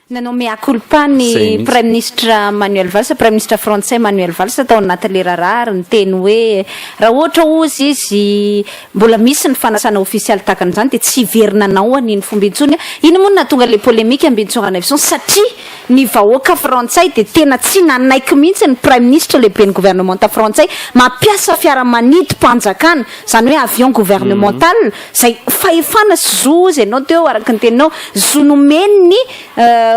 Nanao mea culpa ny Praiminisitra Manuel Valls, Praiminisitra Frantsay Manuel Valls tao anaty leraraha ary niteny hoe raha ohatra hozy izy mbola misy ny fanasana ofisialy tahaka an'izany dia tsy hiverina anao an'iny fomba intsony. Iny moa no nahatonga ilay polemika ambintsora Neveson satria Ny vahoaka frantsay dia tena tsy nanaiky mihitsy ny praiminisitra lehiben'ny governemanta frantsay mampiasa fiaramanidim-panjakana, izany hoe avion gouvernemental, izay fahefana sy zo, hozy ianao teo araka ny teninao, zo nomen'ny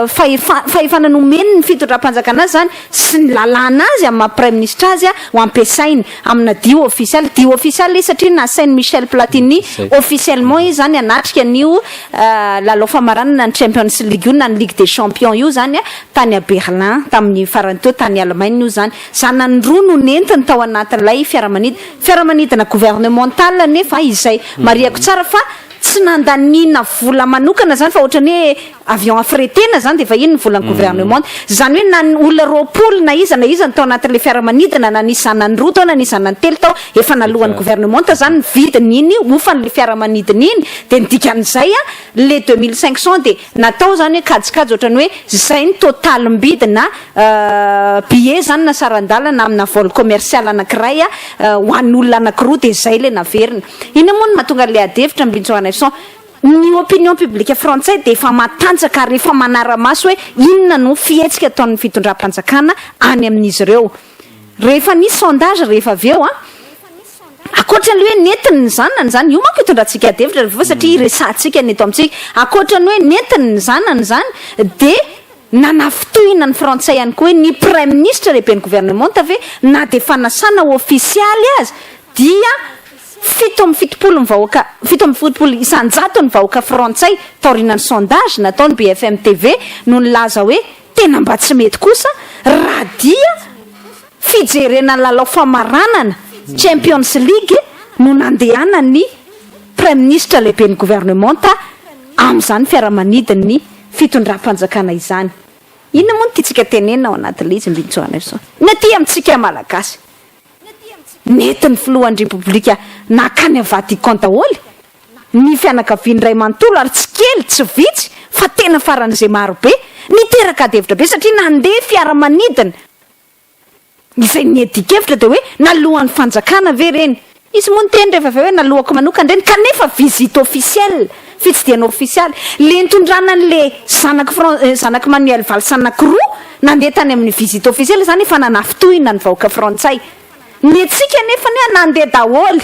fahefana, fahefana nomen'ny fitondram-panjakana azy izany. sy ny lalàna azy amin'ny maha Praiminisitra azy ho ampiasainy amina dihy ofisialy, dihy ofisialy izy satria nasain'i Michel Platini officiellement izy izany hanatrika an'io lalao famaranana ny Champions League io na ny Ligue des Champions io izany tany à Berlin tamin'ny farany teo, tany Allemagne io izany. Zanany roa no nentiny tao anatin'ilay fiaramanidina, fiaramanidina gouvernemental anefa izay, marihako tsara fa tsy nandaniana vola manokana izany fa ohatran'ny hoe, avion affrétena zany dia efa iny ny volan'ny gouvernement zany hoe na ny olona roapolo na iza na iza no tao anatin'ilay fiaramanidina na nisy zanany roa tao na nisy zanany telo tao efa naloan'ny gouvernement zany ny vidin'iny hofan'ilay fiaramanidina iny dia ny dikan'izay a le deux mille cinq cent dia natao zany hoe kajikajy ohatrany hoe zay ny totalim-bidina billet zany na saran-dalana amina vol commercial anakiray a ho an'olona anakiroa dia zay ilay naverina iny moa no mahatonga an'ilay adihevitra ambin'ny tsoarana efson Ny opinion publique frantsay dia efa matanjaka ary efa manara-maso hoe inona no fihetsika ataon'ny fitondram-panjakana any amin'izy ireo. Rehefa nisy sondage rehefa avy eo, ankoatra ny hoe nentiny ny zanany izany, io manko itondrantsika adihevitra rehefa avy eo satria iresahantsika ny eto amintsika, ankoatra ny hoe nentiny ny zanany izany dia nanafintohina ny frantsay ihany koa hoe ny praiminisitra lehiben'ny governemanta ve na dia fanasana ofisialy aza dia Fito amby fitopolo ny vahoaka fito amby fitopolo isan-jato ny vahoaka frantsay taorianan'ny sondage nataon'ny BFM TV no nilaza hoe tena mba tsy mety kosa raha dia fijerena ny lalao famaranana Champions League no nandehanan'ny Praiminisitra lehiben'ny Governemanta amin'izany fiaramanidin'ny fitondram-panjakana izany. Inona moa no tiantsika tenenina ao anatin'ilay izy Mbintsona Nelson? Ny aty amintsika Malagasy Nety ny filohan'ny Repoblika nankany amin'ny Vatican daholo ny fianakaviany iray manontolo ary tsy kely, tsy vitsy fa tena faran'izay marobe. Niteraka adihevitra be satria nandeha fiaramanidina. Izay niadian-kevitra dia hoe nalohan'ny fanjakana ve ireny? Izy moa niteny rehefa avy eo hoe naloako manokana ireny kanefa visite officielle. Fitsidihana ofisialy, le nitondrana an'le zanak'i Fran, zanak'i Manuel Valls anankiroa nandeha tany amin'ny visite ofisialy izany efa nanafintohina ny vahoaka frantsay. Ny antsika anefa anie nandeha daholo,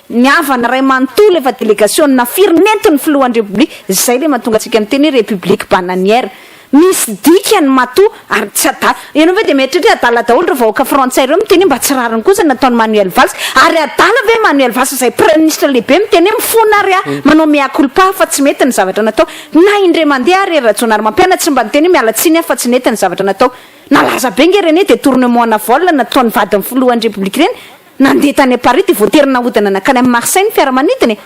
ny havana iray manontolo efa delegasiona firy nentin'ny filohan'ny repoblika, izay le mahatonga antsika miteny hoe repoblika bananiera. Misy dikany matoa ary tsy adala. Ianao ve dia mieritreritra hoe adala daholo ireo vahoaka frantsay ireo miteny hoe mba tsy rariny kosa ny nataon'i Manuel Valls? Ary adala ve Manuel Valls izay praiminisitra lehibe miteny hoe mifona ary aho, manao mea culpa aho fa tsy mety ny zavatra natao? Na indray mandeha ary ry Rajaonarimampianina tsy mba niteny hoe miala tsiny aho fa tsy nety ny zavatra natao? Nalaza be nge reny detournement na vol nataon'ny vadin'ny filohan'ny Repoblika ireny? Nandeha tany Paris dia voatery nahodina nankany amin'i Marseille ny fiaramanidina e!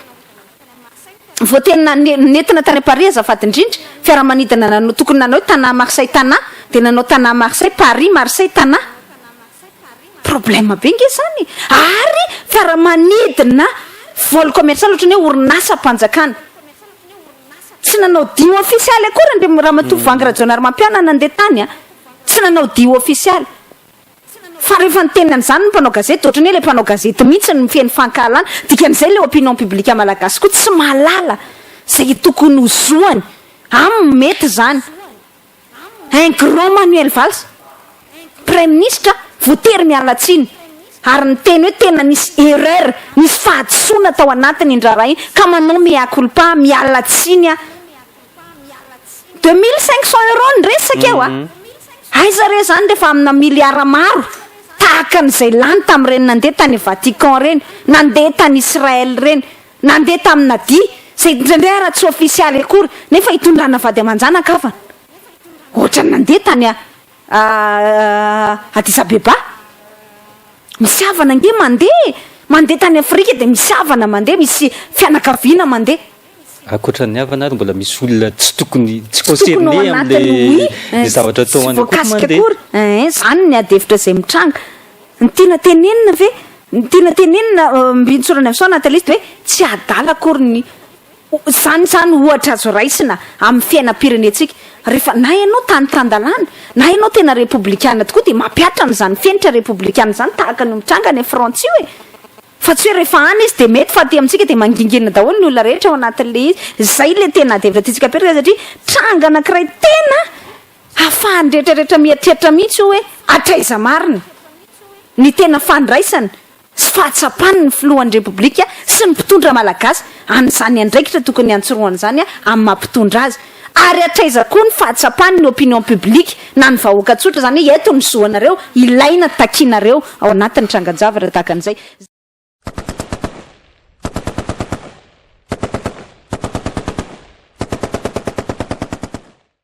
vao tena nentina tany Paris azafady indrindra fiaramanidina nanao tokony nanao hoe Tana Marseille Tana dia nanao Tana Marseille Paris Marseille Tana problème be nge zany ary fiaramanidina vol commercial otrany hoe orinasa mpanjakana tsy nanao dio ofisialy akory Andriamatoa Vangy Rajaonarimampianina nandeha tany a tsy nanao dio ofisialy Fa rehefa niteny an'izany ny mpanao gazety dia ohatran'ny hoe ilay mpanao gazety mihitsy no mifehy ny fankahalana, dikan'izay ilay opinion publique malagasy koa tsy mahalala izay tokony ho zoany, aminy mety izany. Un grand Manuel Valls, praiminisitra, voatery miala tsiny ary niteny hoe tena nisy erreur, nisy fahadisoana tao anatiny ny raharaha iny ka manao mea culpa, miala tsiny aho. Deux mille cinq cents euros ny resaka eo a! Aiza re izany rehefa amina milliards maro tahaka an'izay lany tamin'ireny nandeha tany Vatican ireny, nandeha tany Israël ireny, nandeha tamin'i Nadia, izay indraindray ary tsy ofisialy akory nefa hitondrana vady aman-janakavana. Ohatran'ny nandeha tany Addis Abeba. Misy havana ange mandeha, mandeha tany Afrika dia misy havana mandeha, misy fianakaviana mandeha. Ankoatra ny havana ary mbola misy olona tsy tokony tsy concerné amin'ilay zavatra atao any koa mandeha. Ein, zany ny ady hevitra izay mitranga. Ny tiana tenenina ve, ny tiana tenenina mbintsorany amin'izao anaty liste hoe tsy adala akory ny, zany izany ohatra azo raisina amin'ny fiainam-pirenentsika. Rehefa na ianao tany tan-dalàna, na ianao tena repoblikana tokoa dia mampihatra an'izany fenitra repoblikana izany tahaka ny mitranga any Frantsa io e! Fa tsy hoe rehefa any izy dia mety fa aty amintsika dia mangingina daholo ny olona rehetra ao anatin'ilay izy. Izay ilay tena adihevitra tiantsika apetraka satria tranga anankiray tena ahafahan'ny rehetrarehetra mieritreritra mihitsy hoe hatraiza marina ny tena fandraisana sy fahatsapany ny filohan'ny Repoblika sy ny mpitondra malagasy an'izany andraikitra tokony hantsorohany izany amin'ny maha mpitondra azy. Ary hatraiza koa ny fahatsapany ny opinion publique na ny vahoaka tsotra, izany hoe eto ny zo anareo ilaina takianareo ao anatin'ny trangan-javatra tahaka an'izay.